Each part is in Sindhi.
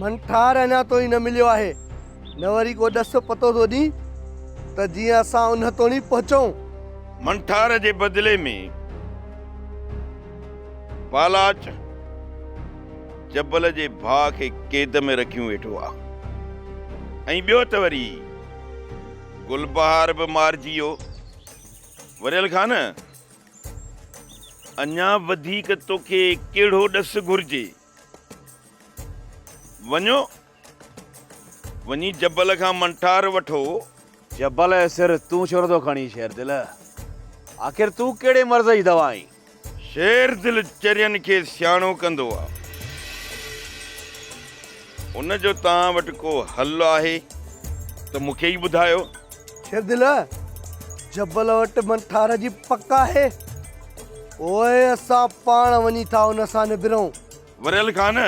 منٺار اڃا توڻي نه مليو آهي، نه وري ڪو ڏس پتو ٿو ڏين ته جيئن اسان ان توڻي پهچون. منٺار جي بدلي ۾ پالاچ جبل جي ڀاء کي قيد ۾ رکيون ويٺو آ ۽ ٻيو ته وري گلبهار به مارجي ويو. وريل خان، اڃا وڌيڪ توکي ڪهڙو ڏس گهرجي؟ وڃو وڃي جبل کان منٺار وٺو. جبل جي سر تون ڇو نٿو کڻين شير دل؟ آخر تون ڪهڙي مرض جي دوا آهين؟ شير دل چرين کي سياڻو ڪندو آ. ان جو توهان وٽ ڪو حل آهي ته مون کي ئي ٻڌايو. شيردل، جبل وٽ من ٺار جي پڪ آهي. پوء اسان پاڻ وڃي ٿا ان سان نبرون. وريل خان،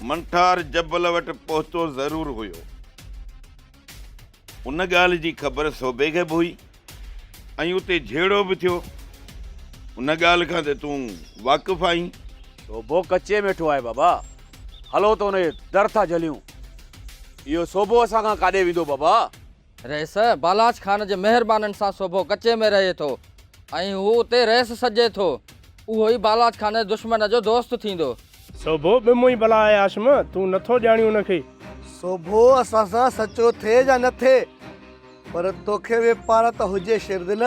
من ٺار جبل وٽ پهتو ضرور هيو. ان ڳالهه جي خبر سوڀي کي به هئي. ۽ اتي جهيڙو به ٿيو. ان ڳالهه کان ته تون واقف آهين. صوبو ڪچي ۾ ويٺو آهي بابا. هلو ته ان جو در ٿا جهليون. اهو صوبو اسان کان ڪاڏي ويندو بابا؟ رئيس بالاچ خان جي مهربانين سان صوبو ڪچي ۾ رهي ٿو ۽ هو اتي رئيس سڏجي ٿو. اهو ئي بالاچ خان جي دشمن جو دوست ٿيندو. صوبو به مون ئي بلا آهي هاشم. تون نٿو ڄاڻين ان کي. صوبو اسان سان سچو ٿئي يا نه ٿئي. پر توکي به پاڙ ته هجي شيردل.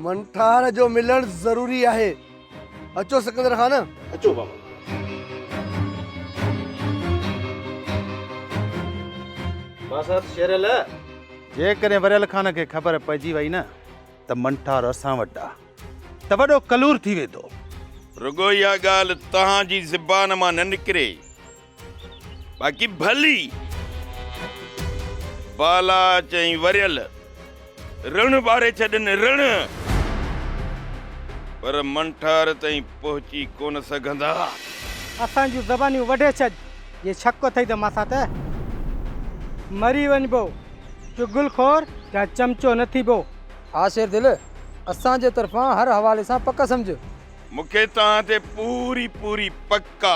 منٺار جو ملڻ ضروري آهي. اچو سڪندر خان. اچو بابا. باسط شيرل. جيڪڏهن وريل خان کي خبر پئجي وئي نه ته منٺار اسان وٽ آ ته وڏو ڪلور ٿي ويندو. رڳو اها ڳالهه توهان جي زبان مان نه نڪري. باقي ڀلي بالا چئين وريل رڻ ٻاري ڇڏن رڻ پر منٺار تائين پهچي ڪونه سگهندا اسان جون زبانيون وڍي ڇڏ جي شڪ اٿئي ته مان سان ته مري وڃبو چغل خور يا چمچو نه ٿيبو ها شير دل اسان جي طرفان هر حوالي سان پڪ سمجهه. مونکي توهان تي پوري پوري پڪ آ.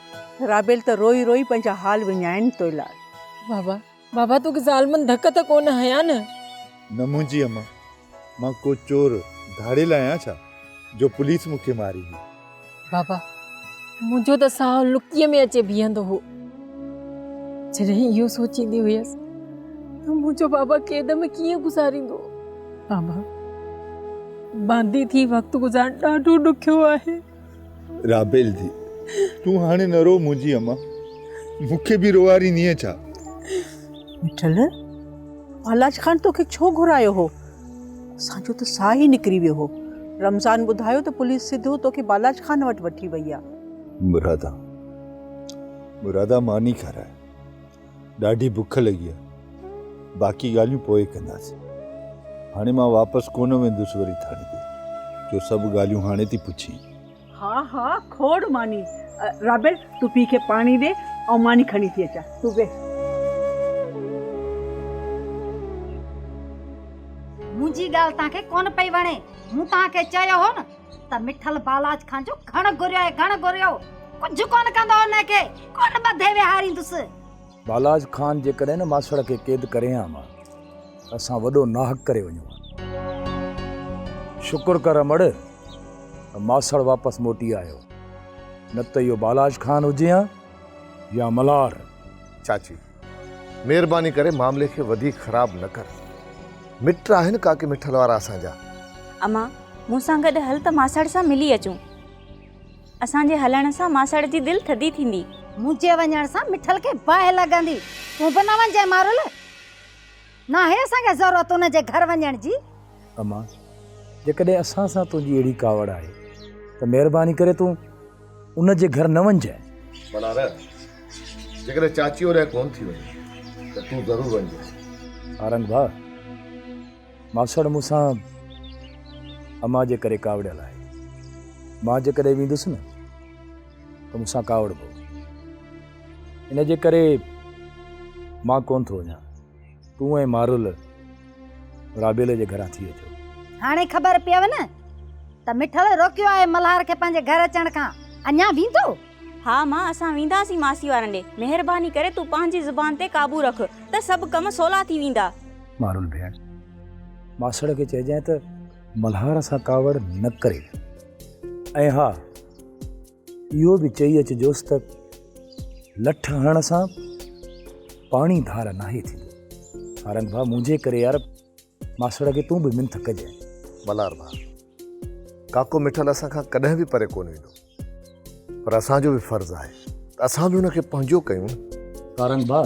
رابيل ته روئي روئي پنهنجا حال وڃائين توء لاء. بابا بابا توکي ظالمن ڌڪ ته ڪونه هنيا نه؟ نه منهنجي اما مان ڪو چور ڌاڙيل آهيان ڇا جو پوليس مون کي ماري هئي. بابا منهنجو ته ساهو لڪيء ۾ اچي بيهندو هو جڏهن اهو سوچيندي هيس ته منهنجو بابا قيد ۾ ڪيئن گذاريندو. بابا باندي ٿي وقت گذارڻ ڏاڍو ڏکيو آهي. رابيل ڌي تون هاڻي نه رو منهنجي اما مون کي به روئاريندينء ڇا مٺل پالاج خان توکي ڇو گهرايو هو اسان جو ته ساهه ئي نڪري ويو هو رمضان ٻڌايو ته پوليس سڌو توکي بالاج خان وٽ وٺي وئي آ مرادا مرادا ماني کارائي ڏاڍي بک لڳي آهي باقي ڳالهيون پوء ڪنداسين. هاڻي مان واپس ڪونه ويندس وري ٿاڻي تي جو سڀ ڳالهيون هاڻي ٿي پڇين. ها ها کوڙ ماني. رابيل تون پيء کي پاڻي ڏي آئون ماني کڻي ٿي اچان تون ويهه. منهنجي ڳالهه توهان کي ڪونه پئي وڻي مون توهان کي چيو هو نه. ته مٺل بالاچ کان جو گهڻ گهريو آهي گهڻ گهريو، ڪجهه ڪونه ڪندو ان کي، ڪونه ٻڌي ويهاريندس. بالاچ خان جيڪڏهن نه ماسڙ کي قيد ڪري ها ها ته اسان وڏو ناحق ڪري وڃون ها. شڪر ڪر امڙ ته ماسڙ واپس موٽي آيو، نه ته اهو بالاچ خان هجي ها يا ملهار. چاچي مھرباني ڪري معاملي کي وڌيڪ خراب نه ڪر مٽ آھن ڪاڪي مٺل وارا اسان جا. اما مون سان گڏ ھل ته ماسڙ سان ملي اچون اسان جي ھلڻ سان ماسڙ جي دل ٿڌي ٿيندي. منھنجي وڃڻ سان مٺل کي باھه لڳندي تون به نه وڃجانء مارل. ناهي اسان کي ضرورت ان جي گهر وڃڻ جي. اما، جيڪڏهن اسان سان تنهنجي اهڙي ڪاوڙ آهي ته مهرباني ڪري تون ان جي گهر نه وڃجانء. منا نه، جيڪڏهن چاچي هوڏانهن ڪونه ٿي وڃي ته تون ضرور وڃجانء. سارنگ ڀاء، ماسڙ مون سان اما جي ڪري ڪاوڙيل آهي. مان جيڪڏهن ويندس نه ته مون سان ڪاوڙبو. ان جي ڪري مان ڪون ٿو وڃان. تون ۽ مارول رابيل جي گهران ٿي اچو. هاڻي خبر پيئو نه ته مٺڙ روڪيو آهي ملهار کي پنهنجي گهر اچڻ کان. اڃا ويندو؟ ها مان، اسان وينداسين ماسي وارن ڏي. مهرباني ڪري تون پنهنجي زبان تي قابو رک ته سڀ ڪم سولا ٿي ويندا. مارول ڀيڻ، ماسڙ کي چئجانء ته ملهار سان ڪاوڙ نه ڪري. ۽ ها! اهو به چئي اچجوس ته لٺ هڻڻ سان پاڻي ڌار ناهي ٿيندو سارنگ ڀاء منهنجي ڪري يار ماسڙ کي تون به منٿ ڪجي ملار ڀاء ڪاڪو مٺل اسان کان ڪڏهن به پري ڪونه ويندو پر اسان جو به فرض آهي اسان به ان کي پنهنجو ڪيون سارنگ ڀاء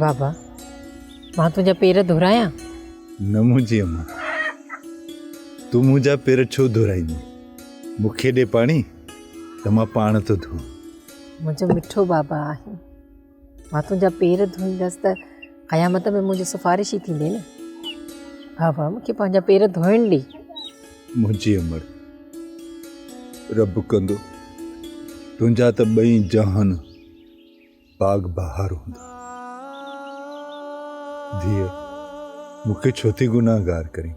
بابا مان تنهنجا پير ڌرايان نه منهنجي امان تون منهنجا پير ڇو ڌرائيندي مون کي ڏي پاڻي ته مان پاڻ ٿو ڌوئان منهنجو مٺو بابا آهين مان تنهنجا پير ڌوئيندس ته قيامت ۾ منهنجي سفارش ئي ٿيندي نه ها ها مونکي پنهنجا پير ڌوئڻ ڏي منهنجي امر رب ڪندو تنهنجا ته ٻئي جهان باغ بهار هوندا ڌيء مونکي ڇو ٿي گناهگار ڪرين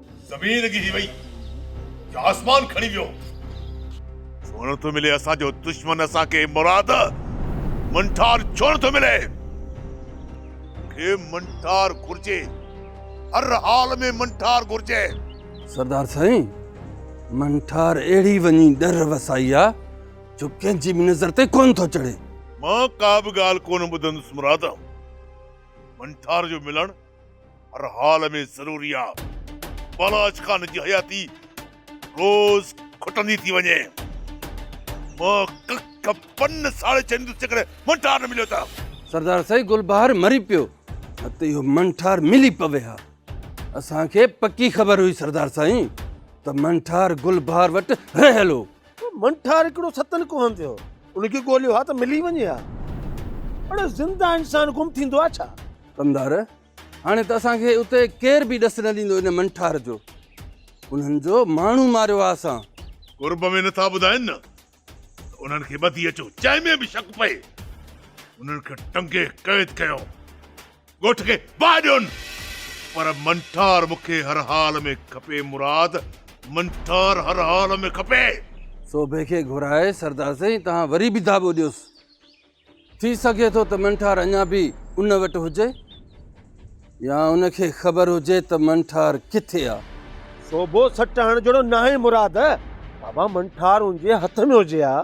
زمين لڳي ٿي وئي جو آسمان کڻي ويو. ڇو نه ٿو ملي اسان جو دشمن اسان کي مراد منٺار ڇو نه ٿو ملي. مون کي منٺار گهرجي هر حال ۾ منٺار گهرجي. سردار سائين منٺار اهڙي وڃي ڏر وسائي آ جو ڪنهن جي به نظر تي ڪونه ٿو چڙهي. مان ڪا به ڳالهه ڪونه ٻڌندس مراد منٺار جو ملڻ. هر حال ۾ ضروري آ. بالاچ خان جي حياتي روز کٽندي ٿي وڃي. مان ڪک پن ساڙي ڇڏيندس جيڪڏهن منٺار نه مليو ته. سردار سائين گلبهار مري پيو نه ته اهو منٺار ملي پوي ها. اسان کي پڪي خبر هئي سردار سائين ته منٺار گلبهار وٽ رهيل هو. منٺار هڪڙو ستن ڪوهن تي هو. ان کي ڳوليو ها ته ملي وڃي ها. اڙي زنده انسان گم ٿيندو آ ڇا؟ ڪنڌار، هاڻي ته اسان کي اتي ڪير به ڏس نه ڏيندو ان منٺار جو. انهن جو ماڻهو ماريو آ اسان. قرب ۾ نٿا ٻڌائين نه ته انهن کي ٻڌي اچو جنهن ۾ به شڪ پئي انهن کي ٽنگي قيد ڪيو ڳوٺ کي باهه ڏيون پر منٺار مون کي هر حال ۾ کپي مراد منٺار هر حال ۾ کپي. سوڀي کي گهرائي سردار سائين توهان وري به ڌاٻو ڏيوس ٿي سگهي ٿو ته منٺار اڃا به ان وٽ هجي يا ان کي خبر هجي ته منٺار ڪٿي آ. سوڀو سٽ هڻڻ جهڙو ناهي مراد. بابا منٺار ان جي هٿ ۾ هجي ها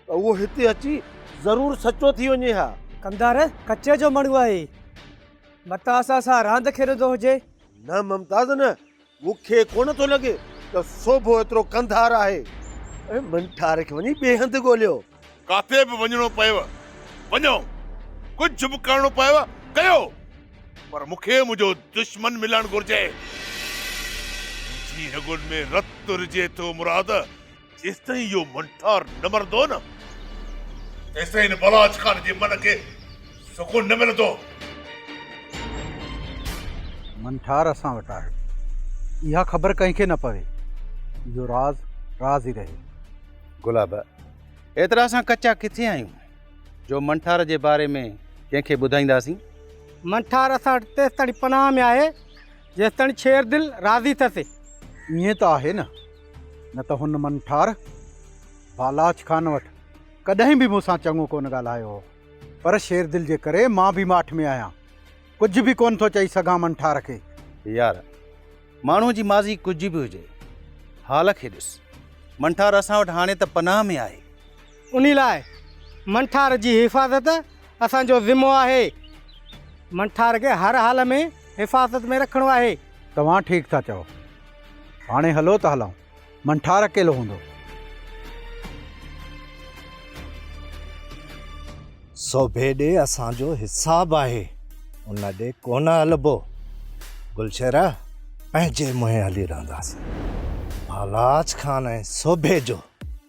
ته اهو هتي اچي ضرور سچو ٿي وڃي ها. ڪمدار ڪچي جو مڙهو آهي. متان اسان سان راند کيڏندو هجي. نه ممتاز نه. مون کي ڪونه ٿو لڳي ته سوڀو ايترو قنڌار آهي. من ٺار کي وڃي ٻئي هنڌ ڳوليو. ڪاٿي به وڃڻو پيو، وڃو. ڪجهه به ڪرڻو پيو، ڪيو. پر مون کي منهنجو دشمن ملڻ گهرجي. منهنجي رڳن ۾ رت رجي ٿو مراد. جيستائين اهو منٺار نه مرندو نه تيستائين هن بلاچ خان جي من کي سڪون نه ملندو. منٺار اسان وٽ آهي. اها خبر ڪنهن کي نه پوي. اهو راز راز ئي رهي. گلاب، ايترا اسان ڪچا ڪٿي آهيون جو منٺار جي باري ۾ ڪنهن کي ٻڌائينداسين. منٺار اسان وٽ تيستائين پناهه ۾ آهي جيستائين شيردل راضي ٿئسي. ائين ته آهي نه. نه ته هن من ٺار بالاچ خان وٽ ڪڏهن به مون سان چڱو ڪونه ڳالهايو هو پر شيردل جي ڪري مان به ماٺ ۾ آهيان ڪجهه به ڪونه ٿو چئي سگهان من ٺار کي. يار ماڻهوء جي ماضي ڪجهه به هجي حال کي ڏس. من ٺار اسان وٽ هاڻي ته پناهه ۾ آهي. انهي لاء منٺار جي حفاظت اسان جو ذمو آهي. منٺار کي هر حال ۾ حفاظت ۾ رکڻو آهي. توهان ٺيڪ ٿا چئو. هاڻي هلو ته هلائون. منٺار اڪيلو هوندو. سوڀي ڏي اسان جو حساب آهي. ان ڏي ڪونه هلبو. گلشيرا پنهنجي منهين هلي رهنداسين. ڀالاچ خان ۽ سوڀي جو.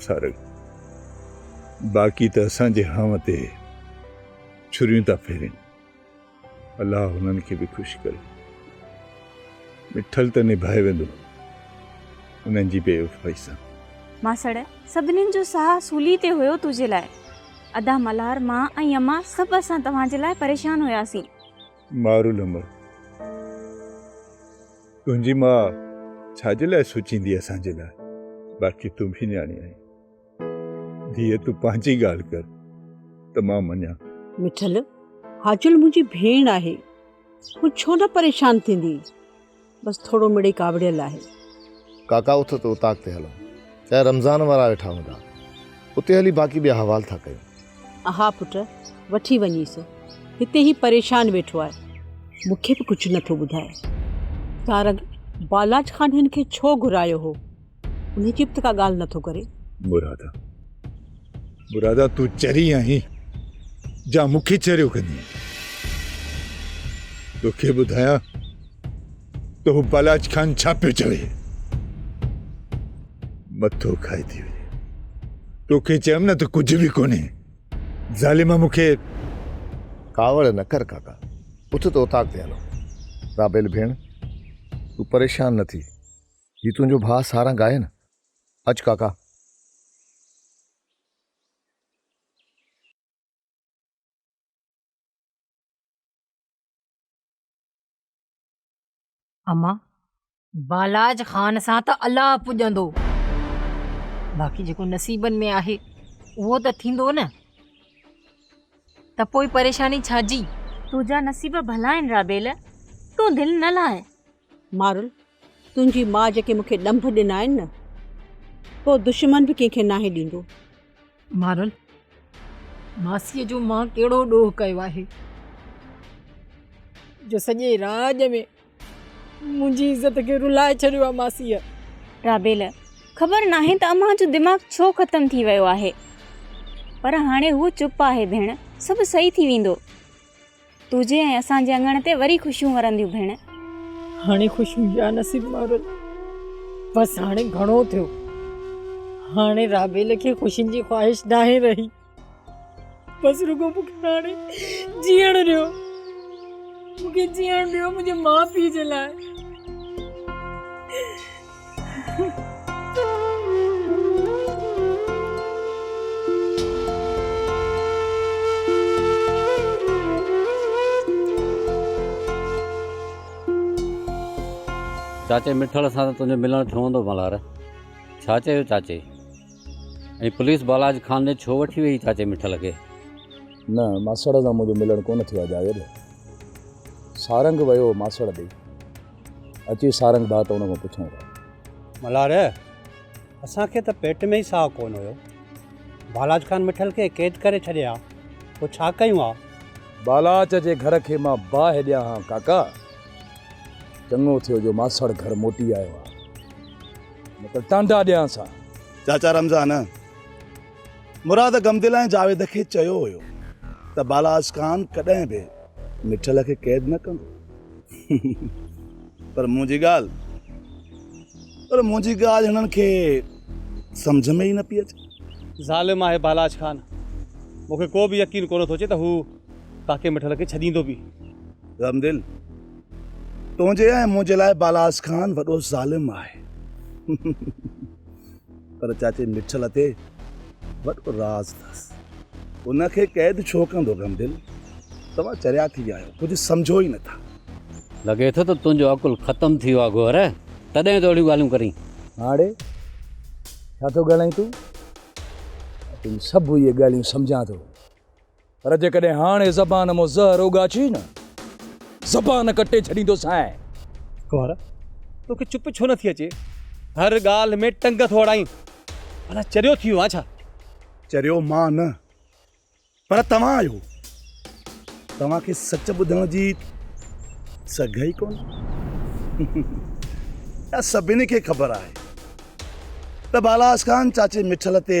سارنگ، باقي ته اسان جي هانء تي ڇريون ٿا ڦيرين. الله هنن کي به خوش ڪري. مٺل ته نڀائي ويندو انهن جي بي وفائي سان. ماسڙ، سڀنين جو ساهه سولي تي هيو تنهنجي لاء. ادا ملهار، مان ۽ امان سڀ اسان توهان جي لاء پريشان هياسين. مار العمر تنهنجي ماء ڇا جي لاء سوچيندي اسان جي لاء باقي تون به نياڻي آهين ڌيء تون پنهنجي ڳالهه ڪر ته مان مڃان. مٺل حاجل منهنجي ڀيڻ آهي هو ڇو نه پريشان ٿيندي. بس ٿورو مڙئي ڪاوڙيل آهي. ڪاڪا اٿ ته اوطاق تي هلون. چاهي رمضان وارا ويٺا هوندا. اتي هلي باقي ٻيا حوال ٿا ڪيون. اها پٽ وٺي وڃيس. هتي هي پريشان ويٺو آهي. مون کي به ڪجهه نٿو ٻڌائي. تارڪ بالاچ خان هن کي ڇو گهرايو هو؟ انهي چپ ته ڪا ڳالهه نه ٿو ڪري. مرادا مرادا تون چري آهين جا مون کي چريو ڪندين. تو کي ٻڌايان ته هو بالاچ خان ڇا پيو چوي. مٿو کائي ٿي وڃي. تو کي چيم نه ته ڪجهه به ڪونهي. ظالم مون کي ڪاوڙ نه ڪر ڪاڪا. اٿ ته اوطاق تي هلون. رابيل ڀيڻ تون پريشان نه ٿي. هي تنهنجو ڀاء سارنگ آهي نه؟ اچ ڪاڪا. امان، بالاچ خان سان ته الله پڄندو، باقي جيڪو نصيبن ۾ آهي اهو ته ٿيندو نه، ته پوء پريشاني ڇا جي؟ تنهنجا نصيب ڀلا آهن رابيل، تون دل نه لاهه. مارل، تنهنجي ماء جيڪي مون کي ڏنڀ ڏنا آهن نه، ڪو دشمن به ڪنهن کي ناهي ڏيندو. مارل، ماسيء جو مان ڪهڙو ڏوهه ڪيو آهي، جو سڄي راڄ ۾ منهنجي عزت کي رلائي ڇڏيو آهي ماسيء. رابيل، خبر ناهي ته امان جو دماغ ڇو ختم ٿي ويو آهي، پر هاڻي هوء چپ آهي ڀيڻ، سڀ صحيح ٿي ويندو. تنهنجي ۽ اسان جي اڱڻ تي وري خوشيون ورنديون ڀيڻ. هاڻي خوشيون يا نصيب مارل بس هاڻي گهڻو ٿيو. هاڻي رابيل کي خوشين جي خواهش ناهي رهي. بس رڳو مون کي هاڻي جيئڻ ڏيو. مون کي جيئڻ ڏيو منهنجي ماء پيء جي لاء. چاچي مٺڙ سان ته تنهنجو ملڻ ٿيو هوندو ملهار؟ ڇا چيو چاچي؟ ۽ پوليس بالاج خان ڏي ڇو وٺي ويئي چاچي مٺل کي؟ نه ماسڙ سان منهنجو ملڻ ڪونه ٿيو آهي جاويد. سارنگ ويو هو ماسڙ ڏي. اچي سارنگ ڀاء ته ان کان پڇون ٿا. ملهار، اسان کي ته پيٽ ۾ ئي ساهه ڪونه هيو. بالاچ خان مٺل کي قيد ڪري ڇڏي ها، پوء ڇا ڪيون ها؟ بالاچ جي گهر کي مان باهه ڏيان ها ڪاڪا. چڱو ٿيو جو ماسڙ گهر موٽي آيو ها، نه ته ٽانڊا ڏيانس ها. چاچا رمضان، مراد غمدلائين جاويد کي چيو هيو ته بالاچ خان ڪڏهن به مٺل کي قيد نه ڪندو. پر منهنجي ڳالهه پر منهنجي ڳالهه هنن کي سمجهه ۾ ئي نه پئي اچي. ظالم آهي بالاچ خان. مون کي ڪو به يقين ڪونه ٿو اچي ته هو ڪاڪي مٺل کي ڇڏيندو به. رحمدل تنهنجي ۽ منهنجي لاء بالاچ خان وڏو ظالم آهي. پر چاچي مٺ لتي وٽ راز اٿس. ان کي قيد ڇو ڪندو غمدل؟ توهان چريا ٿي ويا آهيو، ڪجهه سمجهو ئي نٿا. لڳي ٿو ته تنهنجو عقل ختم ٿي ويو آهي گوهر، تڏهن ته اهڙيون ڳالهيون ڪرين. ماڙي، ڇا ٿو ڳالهائين تون؟ مان تنهنجون سڀ اهي ڳالهيون سمجهان ٿو. پر جيڪڏهن هاڻي زبان مون زهر اوڳاڇي نه، زبان ڪٽي ڇڏيندوسانء. ڪنوار، توکي چپ ڇو نٿي اچي؟ هر ڳالهه ۾ ٽنگ ٿو اڙائين. ڀلا چريو ٿي ويو آهين ڇا؟ چريو مان نه، پر توهان آهيو. توهان کي سچ ٻڌڻ جي سگهه ئي ڪونهي. اها سڀني کي خبر آهي ته بالاحسن خان چاچي مٺل تي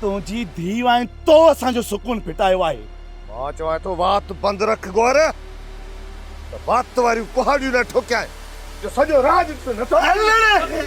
تنهنجي ڌيء آهين تو اسان جو سڪون ڦٽايو آهي. مان چوان ٿو وات بند رک گور ته وات واريون ڪهاڙيون نه ٺوڪيائين جو سڄو راڄ تون نه ٿو ڪرين.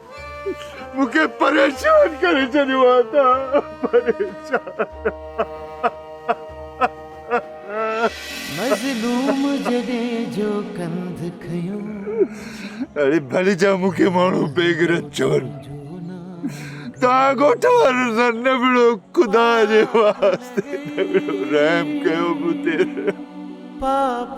مون کي پريشان ڪري ڇڏيو آهي تا پريشان مظلوم جڏهن جو ڪنڌ کنيو اڙي ڀلي جا مون کي ماڻهو بيغرت چون تا ڳوٺ وارن سان نبڙو خدا جي واسطي نبڙو رحم ڪيو مون تي پاپ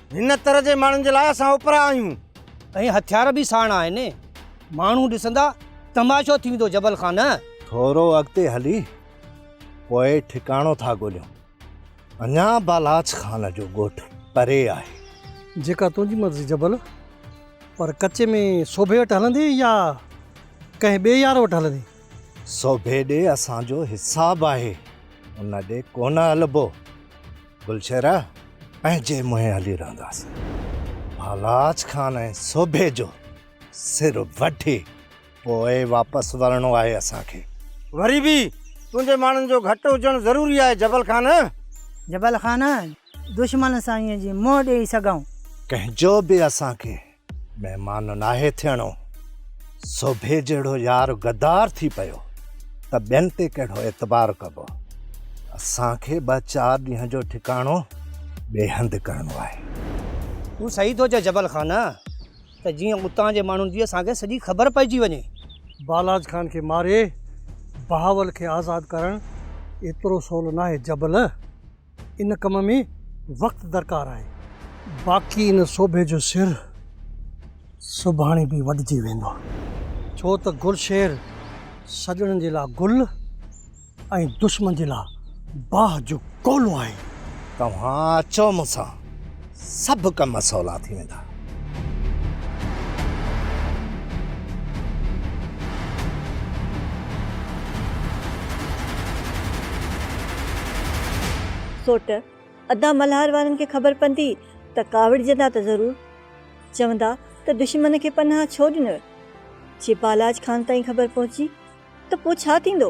هن تر جي ماڻهن جي لاء اسان اوپرا آهيون. ۽ هٿيار به ساڻ آهن. ماڻهو ڏسندا، تماشو ٿي ويندو جبل خان. ٿورو اڳتي هلي پوء ٺڪاڻو ٿا ڳوليون. اڃا بالاچ خان جو ڳوٺ پري آهي. جيڪا تنهنجي مرضي جبل. پر ڪچي ۾ سوڀي وٽ هلندين يا ڪنهن ٻئي يار وٽ هلندين؟ سوڀي ڏي اسان جو حساب آهي، ان ڏي ڪونه هلبو. گلشيرا پنهنجي منهين هلي رهنداس. ڀالاچ خان ۽ سوڀي جو سر وڍي پوء واپس ورڻو آهي اسان کي. وري به تنهنجي ماڻهن جو گهٽ هجڻ ضروري آهي جبل خان. جبل خان، دشمن سان ائين جي منهن ڏيئي سگهون. ڪنهن جو به اسان کي مهمان ناهي ٿيڻو، سوڀي جهڙو يار غدار ٿي پيو ته ٻين تي ڪهڙو اعتبار ڪبو. اسان کي ٻه چار ڏينهن جو ٺڪاڻو ٻئي هنڌ ڪرڻو آهي. تون صحيح ٿو چئين جبل خان ته جيئن اتان جي ماڻهن جي اسان کي سڄي خبر پئجي وڃي. بالاچ خان کي ماري بهاول کي آزاد ڪرڻ ايترو سولو ناهي جبل. ان ڪم ۾ وقت درڪار آهي. باقي ان سوڀي جو سر سڀاڻي به وڍجي ويندو. ڇو ته گل شير سڄڻن جي لاء گل ۽ دشمن جي لاء باھ جو ڪولو آهي. توهان اچو مون سان. سڀ ڪم سولا ٿي ويندا. سوٽ، ادا ملهار وارن کي خبر پوندي ته ڪاوڙجندا ته ضرور. چوندا ته دشمن کي پناهه ڇو ڏنوء. جي بالاچ خان تائين خبر پهچي ته پوء ڇا ٿيندو؟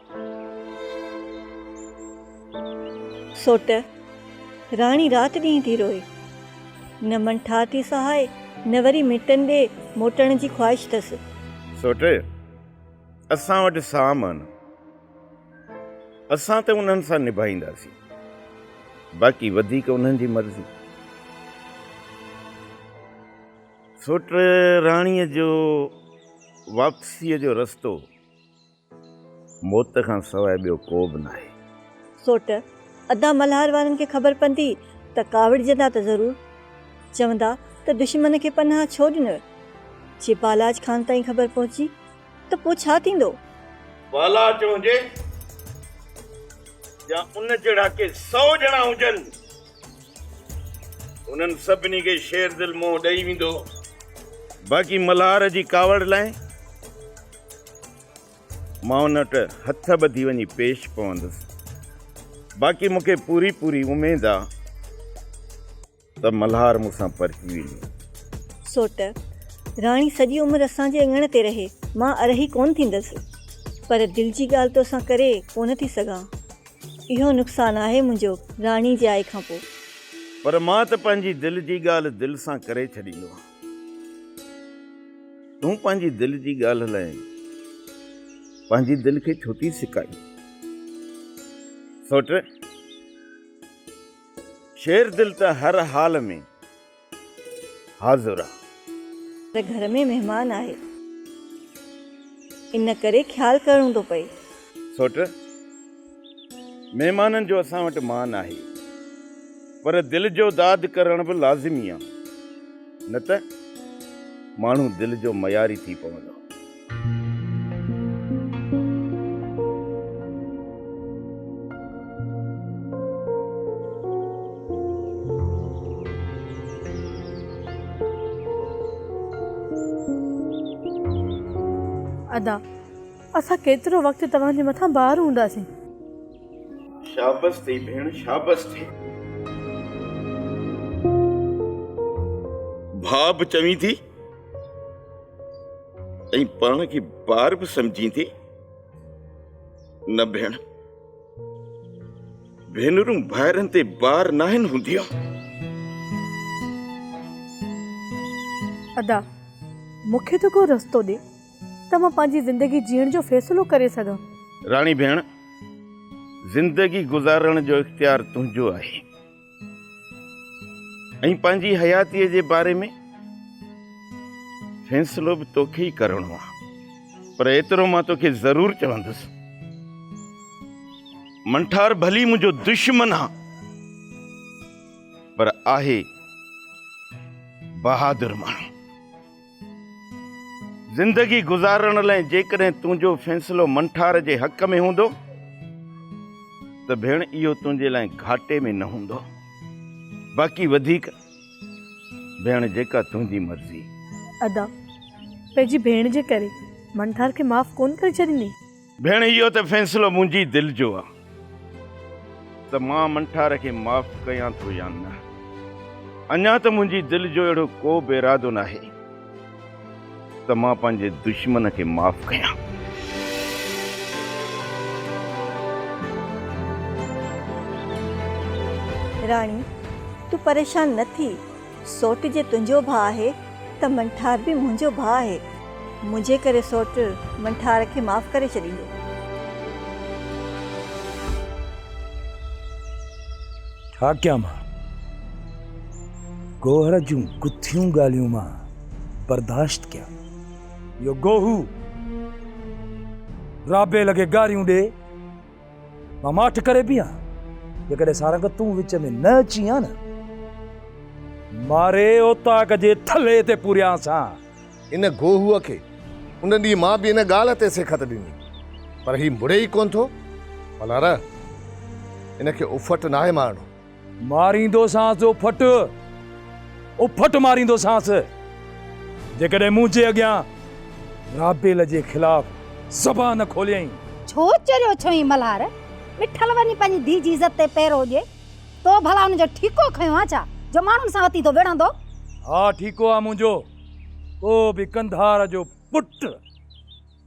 سوٽ، راڻي رات ڏينهن ٿي روئي. نه من ٺاهه ٿي سهائي، نه وري مٽن ڏي موٽڻ جي خواهش اٿس. سوٽ، اسان وٽ ساهه مان نه. اسان ته انهن سان نڀائينداسين، باقي وڌيڪ انهن جي مرضي. سوٽ، راڻيء جو واپسيء جو رستو موت کان سواء ٻيو ڪو به ناهي. سوٽ، ادا ملهار وارن کي خبر پندي ته ڪاوڙجندا ته ضرور. چوندا ته دشمن کي پناهه ڇو ڏنئه. جي بالاچ خان تائين خبر پهچي ته پوء ڇا ٿيندو؟ بالاچ هجي يا ان جهڙا ڪي سئو ڄڻا هجن، انهن سڀني کي شير دل منهن ڏئي ويندو. باقي ملهار جي ڪاوڙ لاء. مان ان وٽ هٿ ٻڌي وڃي پيش پوندس. باقي مون کي پوري پوري اميد آ ته ملهار مون سان پرچي ويندو. سوٽ، راڻي سڄي عمر اسان جي اڱڻ تي رهي، مان ارهي ڪونه ٿيندس. پر دل جي ڳالهه تو سان ڪري ڪونه ٿي سگهان. اهو نقصان آهي منهنجو راڻي جي آئي کان پوء. پر مان ته پنهنجي دل جي ڳالهه دل سان ڪري ڇڏيندو. تون پنهنجي دل جي ڳالهه لاء پنهنجي دل کي ڇو ٿي سڪائين؟ سوچ شير دل ته هر حال ۾ حاضر آ. ته گهر ۾ مهمان آهي. ان ڪري خيال ڪرڻو ٿو پئي. سوچ. مهمانن جو اسان وٽ مان آهي، پر دل جو داد ڪرڻ به لازمي آ، نه ته ماڻهو دل جو مياري ٿي پوندو. ادا. اسان ڪيترو وقت توهان جي مٿان بار هونداسين. شابس ٿي ڀيڻ شابس ٿي. ڀاء به چوين ٿي ۽ پاڻ کي بار به سمجهين ٿي. نه ڀيڻ ڀينرون ڀائرن تي بار ناهن هونديون. ادا مون کي ته ڪو رستو ڏي. ته مان پنهنجي زندگي جيئڻ جو فيصلو ڪري سگهان. راڻي ڀيڻ، زندگي گذارڻ جو اختيار تنهنجو آهي ۽ پنهنجي حياتيء جي باري ۾ فيصلو به توکي ئي ڪرڻو آهي. پر ايترو مان توکي ضرور چوندس، منٺار ڀلي منهنجو دشمن آ، پر آهي بهادر ماڻهو. زندگي گذارڻ لئه جيڪڏهن تنهنجو فيصلو منٺار جي حق ۾ هوندو ته ڀيڻ اهو تنهنجي لاء گهاٽي ۾ نه هوندو. باقي وڌيڪ ڀيڻ جيڪا تنهنجي مرضي. ادا پنهنجي ڀيڻ جي ڪري منٺار کي معاف ڪونه ڪري ڇڏيندين. ڀيڻ اهو ته فيصلو منهنجي دل جو آ ته مان منٺار کي معاف ڪيان ٿو يا نه. اڃا ته منهنجي دل جو اهڙو ڪو به ارادو ناهي ته مان پنهنجي دشمن کي معاف ڪيان. راڻي، تون پريشان نه ٿي. سوٽ جي تنهنجو ڀاء آهي ته منٺار به منهنجو ڀاء آهي. منهنجي ڪري سوٽ منٺار کي معاف ڪري ڇڏيندو. ڇا ڪيان مان؟ گوهر جون ڪٿيون ڳالهيون مان برداشت ڪيان؟ اهو گوهو رابيل کي گاريون ڏي. مان ماٺ ڪري بيهان جيڪڏهن سارنگ تون وچ ۾ نه اچين ها نه ماري اوطاق جي ٿلهي تي پوريان سان. ان گوهوء کي ان ڏينهن مان به ان ڳالهه تي سيکت ڏني پر هي مڙي ئي ڪونه ٿو. ملهاره! ان کي افٽ ناهي مارڻو. ماريندوسانس جو ڦٽ اڦٽ ماريندوسانس جيڪڏهن منهنجي اڳيان رابيل جي خلاف زبان کوليائين. ڇو چريو ڇوهين ملهار؟ مٺل وڃي پنهنجي ڌيء جي عزت تي پيرو ڏي. تو ڀلا ان جو ٺيڪو کنيو آ ڇا جو ماڻهن سان وتي ٿو وڙهندو؟ ها ٺيڪو آ منهنجو. ڪو به قنڌار جو پٽ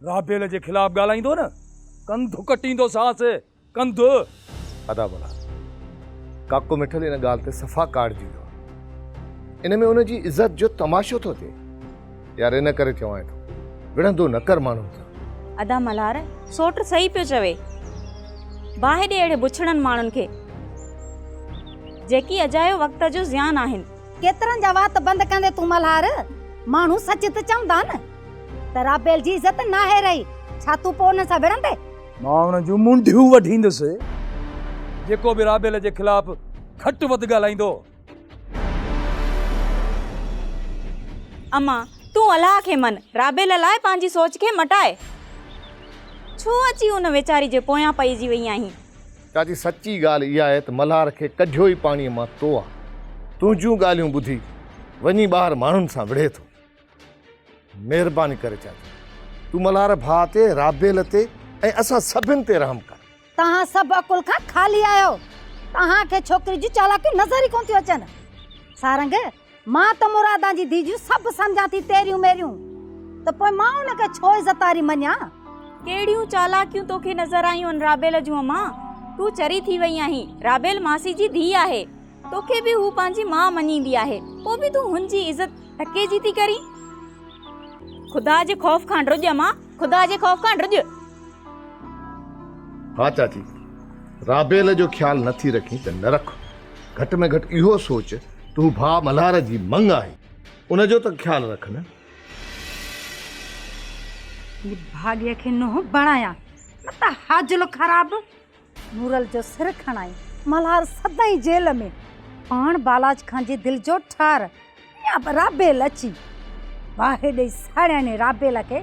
رابيل جي خلاف ڳالهائيندو نه ڪنڌ ڪٽيندوسانس. ڪنڌ. ادا ڀلا ڪاڪو مٺل ان ڳالهه تي صفا ڪاڙجي ويو آهي. ان ۾ ان جي عزت جو تماشو ٿو ٿئي. يار ان ڪري چوانء ٿو وڙهندو نه ڪر ماڻهن سان. ادا ملهار سوٽ صحيح پيو چوي. باهه ڏي اهڙي بڇڙن ماڻهن کي جيڪي اجايو وقت جو زيان آهن. ڪيترن جا وات بند ڪندين تون ملهار. ماڻهو سچ ته چوندا نه ته رابيل جي عزت ناهي رهي ڇا تون پوء انهن سان وڙهندين. مان ان جون منڍيون وڍيندس جيڪو به رابيل جي خلاف گهٽ وڌ ڳالهائيندو. امان، تون الله کي من، رابيل لاء پنهنجي سوچ کي مٽاء. ڇو اچي ان ويچاري جي پويان پئجي وئي آهين؟ چاچي، سچي ڳالهه اها آهي ته ملهار کي ڪڍيو ئي پاڻيء مان تو آن تنهنجون ڳالهيون ٻڌي وڃي ٻاهر ماڻهن سان وڙهي ٿو. مهرباني ڪري چاچا تون ملهار ڀاء تي رابيل تي ۽ اسان سڀن تي رحم ڪر. توهان سڀ عقل کان خالي آهيو توهان کي ڇوڪري جون چالاڪيون نظر ئي ڪون ٿيون اچن سارنگ مان ته مرادان جي ڌي جون سڀ سمجهان ٿي تيريون ميريون ته پوء مان ان کي ڇو عزت واري مڃان. ڪهڙيون چالاڪيون توکي نظر آيون رابيل جون امان تون چري ٿي وئي آهين رابيل ماسي جي ڌي آهي. توکي به هو پنهنجي ماء مڃيندي آهي، پوء به تون هن جي عزت ٽڪي جي ٿي ڪرين؟ خدا جي خوف کان ڊڄ مان، خدا جي خوف کان ڊڄ. ها چاچي، رابيل جو خيال نه ٿي رکين ته نه رک، گهٽ ۾ گهٽ اهو سوچ ته هو ڀاء ملهار جي مڱ آهي، ان جو ته خيال رک نه. نڀاڳي کي نوح بڻايان، نه ته حاجلو خراب. نورل جو سر کڻائي ملهار سدائين جيل ۾. پاڻ بالاچ خان جي دل جو ٺار ميان رابيل اچي باهه ڏئي ساڙياڻي رابيل کي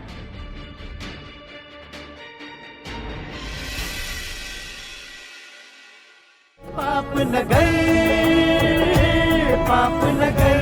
پاپ نگر پاپ نگر.